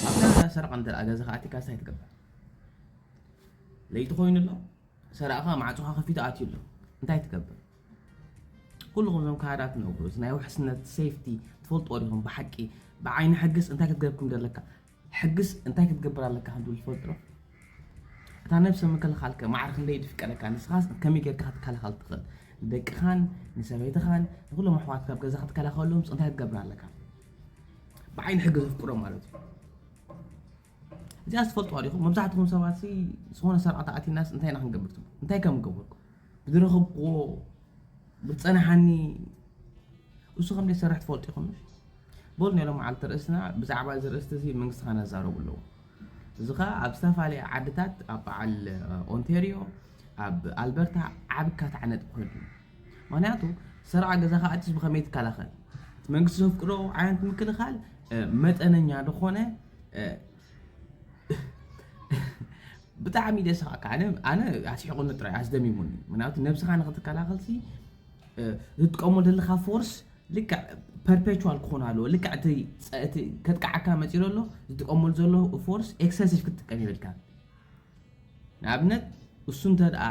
ኣብ ካናዳ ሰረቓ እንተ ገዛኻ ኣእቲካስ እንታይ ትገብር? ለይቲ ኮይኑ ኣሎ ሰረቕኻ ማዕፆኻ ከፊቱ ኣትዩ ኣሎ እንታይ ትገብር? ኩልኹም እዞም ካናዳ ትነብሩ እዚ ናይ ውሕስነት ሴፍቲ ትፈልጥዎ ዲኹም ብሓቂ ብዓይኒ ሕግስ እንታይ ክትገብር ከም ዘለካ ሕግስ እንታይ ክትገብር ኣለካ ከም ትብል ትፈልጥ ዶ እታ ነብሰ ምክልኻልከ ማዕረ ክንደይ ድፍቀደካ ንስኻስ ከመይ ጌርካ ክትከላኸል ትኽእል ንደቅኻን ንሰበይትኻን ንኩሎም ኣሕዋትካ ኣብ ገዛ ክትከላኸለሎምስ እንታይ ክትገብር ኣለካ ብዓይኒ ሕጊ ዘፍቅዶም ማለት እዩ እዚኣ ዝፈልጥዋ ዲኹም መብዛሕትኹም ሰባት ዝኾነ ሰራዕቲ ኣቲናስ እንታይ ኢና ክንገብር ትብሉ እንታይ ከም ገበርኩ ብዝረኸብክዎ ብፀናሓኒ እሱ ከም ዘይሰርሕ ትፈልጡ ኢኹም በሉ ናይ ሎመዓልቲ ርእስና ብዛዕባ እዚ ርእስቲ እዚ መንግስቲ ከነዛረቡ ኣለዎ እዚ ከዓ ኣብ ዝተፈላለየ ዓድታት ኣብ በዓል ኦንቴሪዮ ኣብ ኣልበርታ ዓብካት ዓነጥ ኮይኑ እዩ ምኽንያቱ ሰርዓ ገዛ ከኣትስ ብኸመይ ትከላኸል? እቲ መንግስቲ ዘፍቅዶ ዓይነት ምክልኻል መጠነኛ ዝኾነ ብጣዕሚ ደስኻካ ኣነ ኣነ ኣስሒቑኒ ጥራይ ኣስደሚሙኒ ምክንያቱ ነብስኻ ንኽትከላኸልሲ ዝጥቀሙ ዘለካ ፎርስ ልክዕ ፐርፔቹዋል ክኾን ኣለዎ ልክዕ እቲ ከጥቅዓካ መፂኡ ዘሎ ዝጥቀመሉ ዘሎ ፎርስ ኤክሰሲቭ ክትጥቀም ይብልካ ንኣብነት እሱ እንተድኣ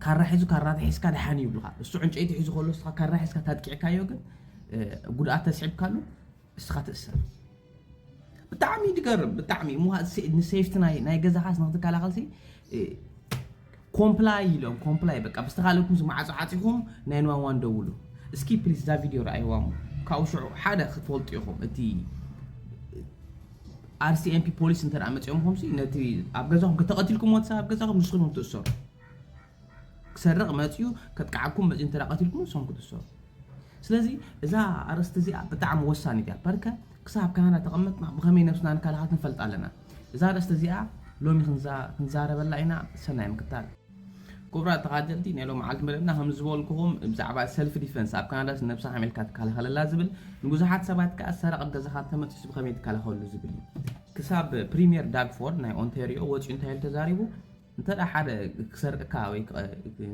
ካራ ሒዙ ካራ ተሒዝካ ደሓን እዩ ይብልኻ እሱ ዕንጨይቲ ሒዙ ከሎ እስኻ ካራ ሒዝካ ታጥቂዕካዮ ግን ጉድኣት ተስዒብካሉ እስኻ ትእሰር ብጣዕሚ ይገርም ብጣዕሚ ንሴፍቲ ናይ ገዛኻስ ንክትከላኸልሲ ኮምፕላይ ኢሎም ኮምፕላይ በቃ ብዝተካለኩም ዝማዓጾ ዓጺኹም ናይ ንዋን ዋን ደውሉ እስኪ ፕሊስ እዛ ቪድዮ ረኣይዋ እሞ ካብኡ ሽዑ ሓደ ክትፈልጡ ኢኹም እቲ RCMP ፖሊስ እንተ መጺኦምኹም ሲ ነቲ ኣብ ገዛኹም ከተቐቲልኩምዎ እቲ ሰብ ኣብ ገዛኹም ንስኹም እዮም ትእሰሩ ክሰርቕ መጺኡ ከጥቅዓኩም መጺኡ እንተ ቀቲልኩምዎ ንስኹም ክትእሰሩ ስለዚ እዛ ኣርእስቲ እዚኣ ብጣዕሚ ወሳኒት እያ ፐርከ ክሳብ ካህናት ተቐመጥና ብኸመይ ነብስና ንካልኣኻት ንፈልጥ ኣለና? እዛ ኣርእስቲ እዚኣ ሎሚ ክንዛረበላ ኢና ሰናይ ምክታል። ኩቡራት ተኻተልቲ ናይ ሎምዓልቲ መደብና ከምዝበልኩኹም ብዛዕባ ሰልፍ ዲፈንስ ኣብ ካናዳስ ንነብሳ ከመይ ኢልካ ትካላኸለላ ዝብል ንቡዙሓት ሰባት ከኣ ሰረቕ ኣብ ገዛኻ ተመጺሱ ብኸመይ ትካላኸለሉ ዝብል እዩ ክሳብ ፕሪምየር ዳግ ፎርድ ናይ ኦንተርዮ ወጺኡ እንታይ ኢሉ ተዛሪቡ እንተ ሓደ ክሰርቅካ ወይ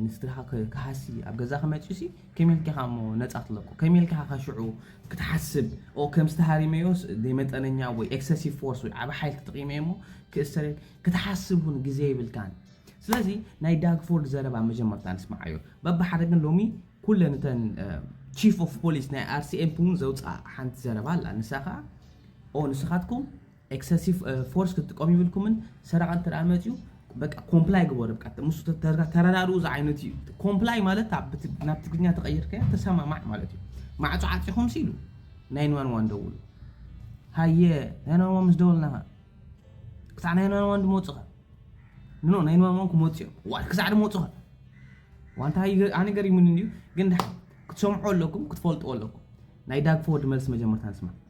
ንስድራኻ ክሃሲ ኣብ ገዛኻ መጺኡሲ ከመይ ኢልካ ኢኻ እሞ ነጻ ትለቁ ከመይ ኢልካ ኢኻ ሽዑ ክትሓስብ ኦ ከምዚ ተሃሪመዮስ ዘይመጠነኛ ወይ ኤክሰሲቭ ፎርስ ወይ ዓብ ሓይል ተጠቂመ እሞ ክእሰር ክትሓስብ እውን ግዜ ይብልካን ስለዚ ናይ ዳግፎርድ ዘረባ መጀመርታ ንስምዓዮ በብሓደ ግን ሎሚ ኩለን እተን ቺፍ ኦፍ ፖሊስ ናይ ኣርሲኤምፕ እውን ዘውፅኣ ሓንቲ ዘረባ ኣላ ንሳ ከዓ ኦ ንስኻትኩም ኤክሰሲቭ ፎርስ ክትጥቀሙ ይብልኩምን ሰራቂ እንተ መፅዩ በቃ ኮምፕላይ ግበሩ በቃ ምስ ተረዳድኡ ዝዓይነቱ እዩ ኮምፕላይ ማለት ናብ ትግርኛ ተቀይርከ ተሰማማዕ ማለት እዩ ማዕፆ ዓፂኹም ሲሉ ናይን ዋን ዋን ደውሉ ሃየ ናይን ዋን ዋን ምስ ደወልናኻ ክሳዕ ናይን ዋን ዋን ድመፁኻ ንኖ ናይን ዋን ዋን ክመፁ እዮም ዋል ክሳዕ ድመፁኻ ዋንታ ኣነ ገሪሙኒ እንዲዩ ግን ክትሰምዑ ኣለኩም ክትፈልጡ ኣለኩም ናይ ዳግፎወርድ መልሲ መጀመርታ ንስማ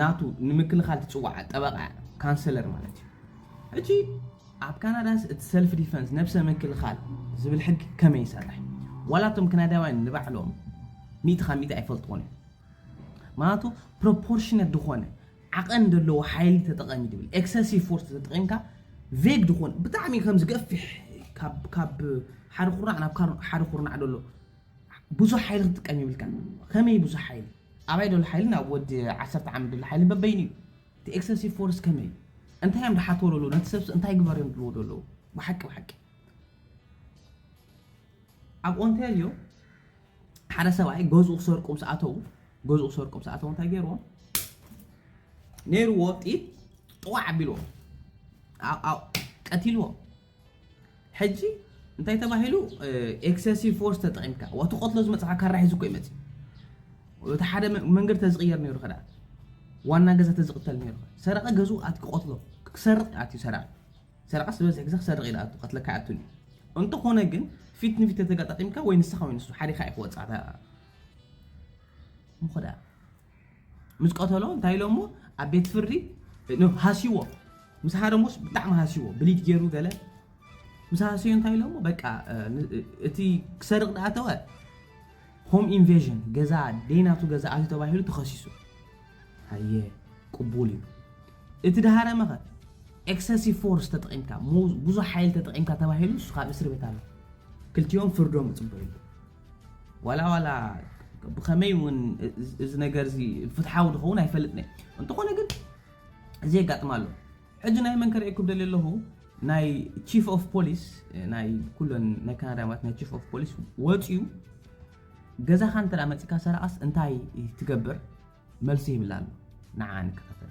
ናቱ ንምክልኻል ትጽዋዕ ጠበቓ'ያ፣ ካንሰለር ማለት እዩ። ሕጂ ኣብ ካናዳስ እቲ ሰልፍ ዲፈንስ፣ ነብሰ ምክልኻል፣ ዝብል ሕጊ ከመይ ይሰርሕ? ዋላ እቶም ክናዳውያን ንባዕሎም ሚእቲ ካብ ሚእቲ ኣይፈልጥዎን እዮም። ምኽንያቱ ፕሮፖርሽነት ዝኾነ ዓቐን ዘለዎ ሓይሊ ተጠቐም እዩ ዝብል። ኤክሰሲቭ ፎርስ ተጠቒምካ ቬግ ዝኾነ ብጣዕሚ ከም ዝገፍሕ ካብ ሓደ ኩርናዕ ናብ ሓደ ኩርናዕ ዘሎ ብዙሕ ሓይሊ ክትጥቀም የብልካን ከመይ ብዙሕ ሓይሊ ኣባይ ደሎ ሓይሊ ናብ ወዲ ዓሰርተ ዓመት ደሎ ሓይሊ በበይኑ እዩ እቲ ኤክሰሲቭ ፎርስ ከመይ እዩ እንታይ እዮም ድሓትዎ ደሎ ነቲ ሰብሲ እንታይ ግበር እዮም ድልዎ ደለዉ ብሓቂ ብሓቂ ኣብ ኦንታርዮ ሓደ ሰብኣይ ገዝኡ ክሰርቁ ምስ ኣተዉ ገዝኡ ክሰርቁ ምስ ኣተዉ እንታይ ገይርዎ ነይርዎ ጢት ጥዋዕ ኣቢልዎ ቀቲልዎ ሕጂ እንታይ ተባሂሉ ኤክሰሲቭ ፎርስ ተጠቂምካ ዋቲ ቆትሎ ዝመጽሓ ካራ ሒዙ እኮ ይመጽእ እቲ ሓደ መንገዲ ተዝቅየር ነይሩ ከዳ ዋና ገዛ ተዝቅተል ነይሩ ሰረቀ ገዙ ኣትኪ ቆትሎ ክሰርቅ ኣትዩ ሰረቀ ሰረቀ ዝበዝሕ ግዜ ክሰርቅ ኢለ ኣቱ ቀትለካ ኣቱን እንተኾነ ግን ፊት ንፊት ተተጋጣጢምካ ወይ ንስኻ ወይ ንሱ ሓዲኻ ኢኹ ወጻዕታ ምኾዳ ምስ ቀተሎ እንታይ ኢሎሞ ኣብ ቤት ፍርዲ ሃስይዎ ምስ ሃረሙስ ብጣዕሚ ሃስይዎ ብሊድ ገይሩ ገለ ምስ ሃሰዩ እንታይ ኢሎሞ በቃ እቲ ክሰርቕ ዳኣተወ ሆም ኢንቬዥን ገዛ ደይናቱ ገዛ ኣትዩ ተባሂሉ ተኸሲሱ ሃየ ቅቡል እዩ እቲ ድሃረመኸ ኤክሰሲቭ ፎርስ ተጠቒምካ ብዙሕ ሓይል ተጠቒምካ ተባሂሉ እሱ ካብ እስር ቤት ኣሎ ክልቲኦም ፍርዶም ይፅበዩ ዋላ ዋላ ብኸመይ እውን እዚ ነገር እዚ ፍትሓዊ ዝኸውን ኣይፈልጥን እየ እንተኾነ ግን እዚ የጋጥም ኣሎ ሕጂ ናይ መን ከርእየኩም ደልየ ኣለኹ ናይ ቺፍ ኦፍ ፖሊስ ናይ ኩለን ናይ ካናዳ ማለት ናይ ቺፍ ኦፍ ፖሊስ ወፅዩ ገዛኻ እንተ መፅካ ሰረቓስ እንታይ ትገብር መልሲ ይብላ ኣሎ ንዓ ንከታተል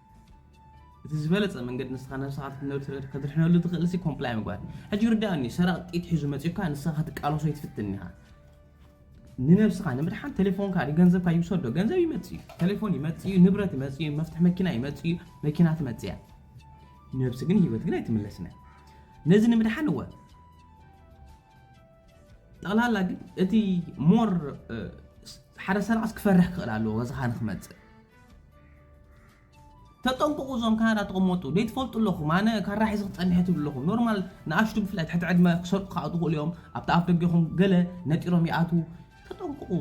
እቲ ዝበለጸ መንገዲ ንስኻ ነብስኻ ኣብቲ ትነብር ከትድሕነሉ ትኽእልሲ ኮምፕላይ ምግባር እዩ። ሕጂ ይርድኣኒ ሰራቒ ጥይት ሒዙ መጺኡካ ንስኻ ክትቃለሶ ኣይትፍትን ኢኻ። ንነብስኻ ንምድሓን ቴሌፎንካ ድዩ ገንዘብካ ይውሰድ ዶ? ገንዘብ ይመጽእ እዩ፣ ቴሌፎን ይመጽእ እዩ፣ ንብረት ይመጽእ እዩ፣ መፍትሒ መኪና ይመጽእ እዩ፣ መኪና ትመጽእ እያ። ነብሲ ግን ህይወት ግን ኣይትምለስን እያ። ነዚ ንምድሓን እወ ጠቕላላ ግን እቲ ሞር ሓደ ሰራቕስ ክፈርሕ ክኽእል ኣለዎ ገዛኻ ንክመጽእ ተጠንቀቁ እዞም ካናዳ ተቀመጡ ዘይትፈልጡ ኣለኹም ኣነ ካራ ሒዘ ክጸንሐ ትብሉ ኣለኹም ኖርማል ንኣሽቱ ብፍላይ ትሕቲ ዕድመ ክሰርቁ ከዓ ትኽእሉ እዮም ኣብቲ ኣፍ ደገኹም ገለ ነጢሮም ይኣትዉ ተጠንቀቁ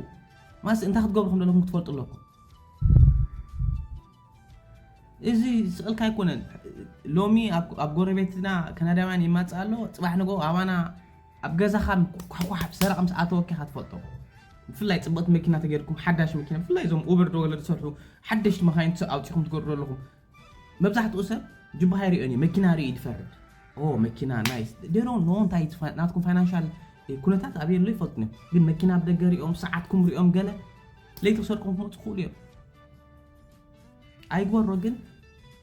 ማስ እንታይ ክትገብሩ ከም ዘለኹም ክትፈልጡ ኣለኩም እዚ ስቕልካ ኣይኮነን ሎሚ ኣብ ጎረቤትና ከናዳውያን ይማፅእ ኣሎ ፅባሕ ንገው ኣባና ኣብ ገዛኻ ኳሕኳሕ ብ ሰረቀ ምስ ኣተወኪ ኢኻ ትፈልጦ ብፍላይ ጽብቅቲ መኪና ተገርኩም ሓዳሽ መኪና ብፍላይ እዞም ኡበር ዶ ወለ ዝሰርሑ ሓደሽቲ መኻይን ትሰ ኣውጺኹም ትገርዶ ኣለኹም መብዛሕትኡ ሰብ ጅባሃ ይሪኦን እዩ መኪና ሪኡ ይፈርድ ኦ መኪና ናይስ ዴሮ ኖ እንታይ እዩ ፋ- ናትኩም ፋይናንሻል ኩነታት ኣብየ ኣሎ ይፈልጡን እዮም ግን መኪና ኣብ ደገ ሪኦም ሰዓትኩም ሪኦም ገለ ለይቲ ክሰርቁም ክመጹ ክኽእሉ እዮም ኣይግበሮ ግን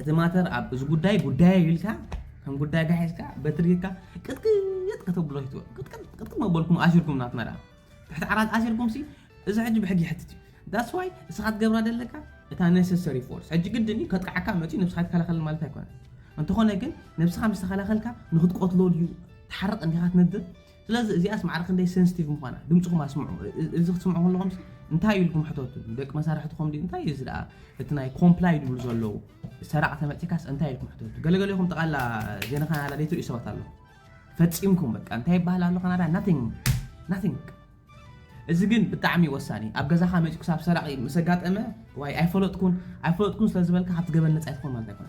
እቲ ማተር ኣብ እዚ ጉዳይ ጉዳይ እዩ ኢልካ ከም ጉዳይካ ሒዝካ በትሪ ጌርካ ቅጥቅጥ ከተብሎ ይትወ ቅጥቅጥ ቅጥቅጥ መበልኩም ኣሲርኩም ናት መርያ ትሕቲ ዓራት ኣሲርኩም ሲ እዚ ሕጂ ብሕጊ ይሕትት እዩ ዳስ ዋይ እስኻ ትገብራ ዘለካ እታ ነሰሰሪ ፎርስ ሕጂ ግድን እዩ ከጥቃዓካ መፅኡ ነብስኻ ይከላኸል ማለት ኣይኮነን እንተኾነ ግን ነብስኻ ምስ ተኸላኸልካ ንክትቆትሎ ድዩ ትሓርቕ እንዲኻ ትነድር ስለዚ እዚኣስ ማዕረ ክንደይ ሰንስቲቭ ምዃና ድምጽኹም ኣስምዑ። እዚ ክትስምዑ ከለኹምሲ እንታይ እዩ ኢልኩም ሕተቱ። ደቂ መሳርሕትኹም ድዩ እንታይ እዩ እዚ ደኣ እቲ ናይ ኮምፕላይ ድብሉ ዘለዉ ሰራቕ ተመጺእካስ እንታይ ኢልኩም ሕተቱ። ገለገሌኹም ጠቓላ ዜና ካናዳ ዘይትርእዩ ሰባት ኣለኹም። ፈጺምኩም በቃ እንታይ ይበሃል ኣሎ ካናዳ ናቲንግ ናቲንግ በቃ እዚ ግን ብጣዕሚ ወሳኒ ኣብ ገዛኻ መፂኡ ክሳብ ሰራቂ ምስ ኣጋጠመ ዋይ ኣይፈለጥኩን ኣይፈለጥኩን ስለ ዝበልካ ካብቲ ገበን ነፃ ይትኾን ማለት ኣይኮነ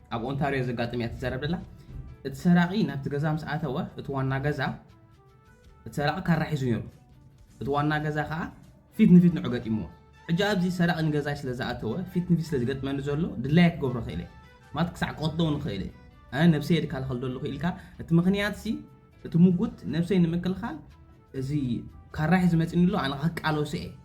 ኣብ ኦንታርዮ ዘጋጥም እያ ትዛረብ ደላ እቲ ሰራቂ ናብቲ ገዛ ምስ ኣተወ እቲ ዋና ገዛ እቲ ሰራቂ ካራ ሒዙ ነይሩ እቲ ዋና ገዛ ከዓ ፊት ንፊት ንዑ ገጢምዎ ሕጂ ኣብዚ ሰራቂ ንገዛይ ስለ ዝኣተወ ፊት ንፊት ስለ ዝገጥመኒ ዘሎ ድላየ ክገብሮ ክእለ ማለት ክሳዕ ክቐትሎ እውን ክእለ ኣነ ነብሰይ የድካልኸል ዘለኹ ኢልካ እቲ ምክንያት ሲ እቲ ምጉት ነብሰይ ንምክልኻል እዚ ካራ ሒዙ መፂኒ ኣሎ ኣነ ክቃለሶ እየ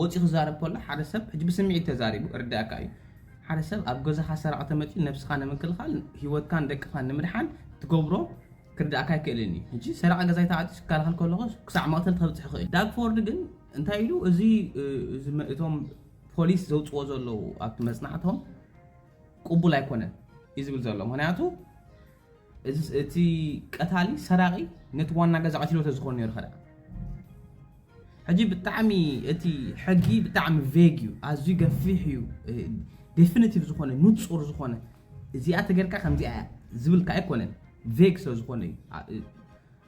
ወጺኡ ክዛረብ ከሎ ሓደ ሰብ ሕጂ ብስሚዒት ተዛሪቡ እርደኣካ እዩ ሓደ ሰብ ኣብ ገዛኻ ሰራቂ ተመጺኡ ነብስኻ ንምክልኻል ሂወትካን ደቅኻን ንምድሓን ትገብሮ ክርድኣካ ኣይክእልን እዩ ሕጂ ሰራቂ ገዛይ ተዓጺዩ ክከላኸል ከለኹ ክሳዕ መቕተልቲ ከብጽሕ ይኽእል ዳግፎርድ ግን እንታይ ኢሉ እዚ እቶም ፖሊስ ዘውጽዎ ዘለዉ ኣብቲ መጽናዕቶም ቅቡል ኣይኮነን እዩ ዝብል ዘሎ ምክንያቱ እዝስ እቲ ቀታሊ ሰራቂ ነቲ ዋና ገዛ ቀቲልዎ ተዝኮን ነይሩ ከ ደኣ ሕጂ ብጣዕሚ እቲ ሕጊ ብጣዕሚ ቬግ እዩ ኣዝዩ ገፊሕ እዩ ዴፊኒቲቭ ዝኾነ ንጹር ዝኾነ እዚኣ ተገርካ ከምዚኣ ዝብልካ ኣይኮነን ቬግ ስለ ዝኾነ እዩ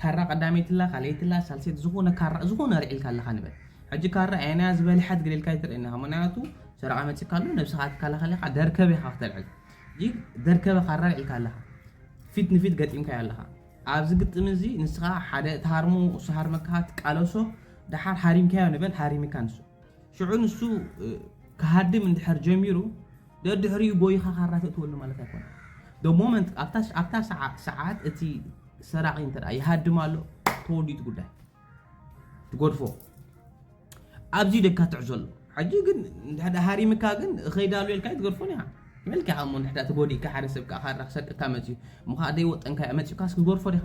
ካራ ቀዳመይቲ ኣላ ካልኣይቲ ኣላ ሳልሰይቲ ዝኮነ ካራ ዝኮነ ኣልዒልካ ኣለካ ንበል ሕጂ ካራ ኣየናያ ዝበልሐት ገሊልካ ኣይትርእየና ምክንያቱ ሰረቃ መጺካ ኣሎ ነብስካ ትከላከል ኢካ ደርከበ ኢካ ክተልዕል ሕጂ ደርከበ ካራ ኣልዒልካ ኣለካ ፊት ንፊት ገጢምካዮ ኣለካ ኣብዚ ግጥም እዚ ንስኻ ሓደ ትሃርሞ እሱ ሃርመካ ትቃለሶ ድሓር ሃሪምካዮ ንበል ሃሪምካ ንሱ ሽዑ ንሱ ክሃድም እንድሕር ጀሚሩ ደድሕሪኡ ጎይኻ ካራ ተእትወሉ ማለት ኣይኮነን። the moment ኣብታ ኣብታ ሰዓ- ሰዓት እቲ ሰራቒ እንተ ደኣ ይሃድም ኣሎ ተወዲኡ እቲ ጉዳይ ትጎድፎ ኣብዚ እዩ ደካ ትዕዞ ኣሎ ሕጂ ግን እንድሕር ደኣ ሃሪምካ ግን እኸይዳ ኣሎ ኢልካ ኣይትገድፎን ኢኻ መልካ እሞ እንድሕር ደኣ ተጎዲእካ ሓደ ሰብ ከዓ ካራ ክሰርቀካ መፅዩ እሞ ከዓ ደይወጠንካ መፅኡካስ ክትጎድፎ ዲኻ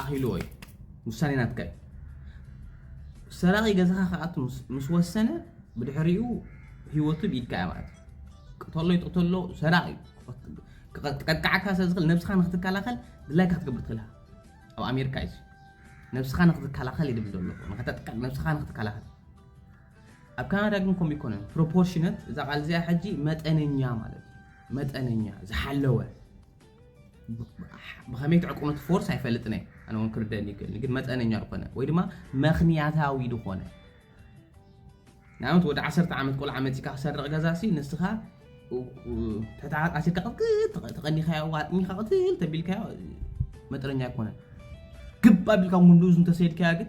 ኣኺልዎ እዩ ውሳኔ ናትካ እዩ ሰራቂ ገዛኻ ክኣቱ ምስ ወሰነ ብድሕሪኡ ህይወቱ ብኢድካ እያ ማለት ቅተሎ ይጥቅተሎ ሰራቂ እዩ ክቀጥቅዓካ ስለ ዝኽእል ነብስኻ ንክትከላኸል ድላይካ ክትገብር ትኽእል ኢኻ ኣብ ኣሜሪካ እዩ ነብስኻ ንክትከላኸል ይድብል ዘሎ ንኸተጥቅዕ ነብስኻ ንክትከላኸል ኣብ ካናዳ ግን ከምኡ ይኮነን ፕሮፖርሽነት እዛ ቃል እዚኣ ሕጂ መጠነኛ ማለት እዩ መጠነኛ ዝሓለወ ብኸመይ ትዕቅኑ ትፎርስ ኣይፈልጥን እየ ኣነ እውን ክርደአኒ ይክእልኒ ግን መጠነኛ ዝኾነ ወይ ድማ ምክንያታዊ ዝኾነ ንኣብነት ወደ ዓሰርተ ዓመት ቆልዓ መፂካ ክሰርቕ ገዛ ሲ ንስኻ ትሕቲ ዓራት ኣሲርካ ቅጥቅጥ ተቐኒኻዮ ዋጥሚኻ ቅትል ተቢልካዮ መጠነኛ ኣይኮነን ግባ ቢልካ ጉንዱዝ እንተሰይድካያ ግን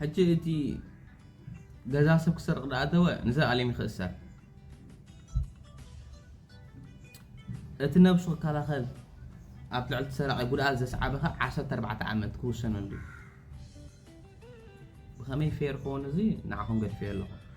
ሕጂ እቲ ገዛ ሰብ ክሰርቕ ዳኣተወ ንዘልኣለም ይኽእሰር። እቲ ነብሱ ክከላኸል ኣብ ልዕሊ እቲ ሰራቒ ጉድኣት ዘስዓበ ከ ዓሰርተ ኣርባዕተ ዓመት ክውሰነሉ እዩ። ብኸመይ ፌር ክኸውን እዚ ንዓኹም ገድፌዮ ኣለኹ።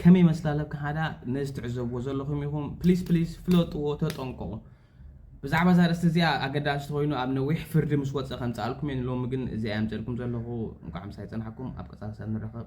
ከመይ ይመስላ ኣለብ ካናዳ ነዚ ትዕዘብዎ ዘለኹም ኢኹም ፕሊስ ፕሊስ ፍለጥዎ ተጠንቀቑ ብዛዕባ እዛ ርእስቲ እዚኣ ኣገዳሲ ተኮይኑ ኣብ ነዊሕ ፍርዲ ምስ ወፀ ከምፅኣልኩም እየ ንሎሚ ግን እዚኣ የምፅልኩም ዘለኹ እንኳዕ ምሳይ ፀናሕኩም ኣብ ቀፃሊ ሰብ ንራኸብ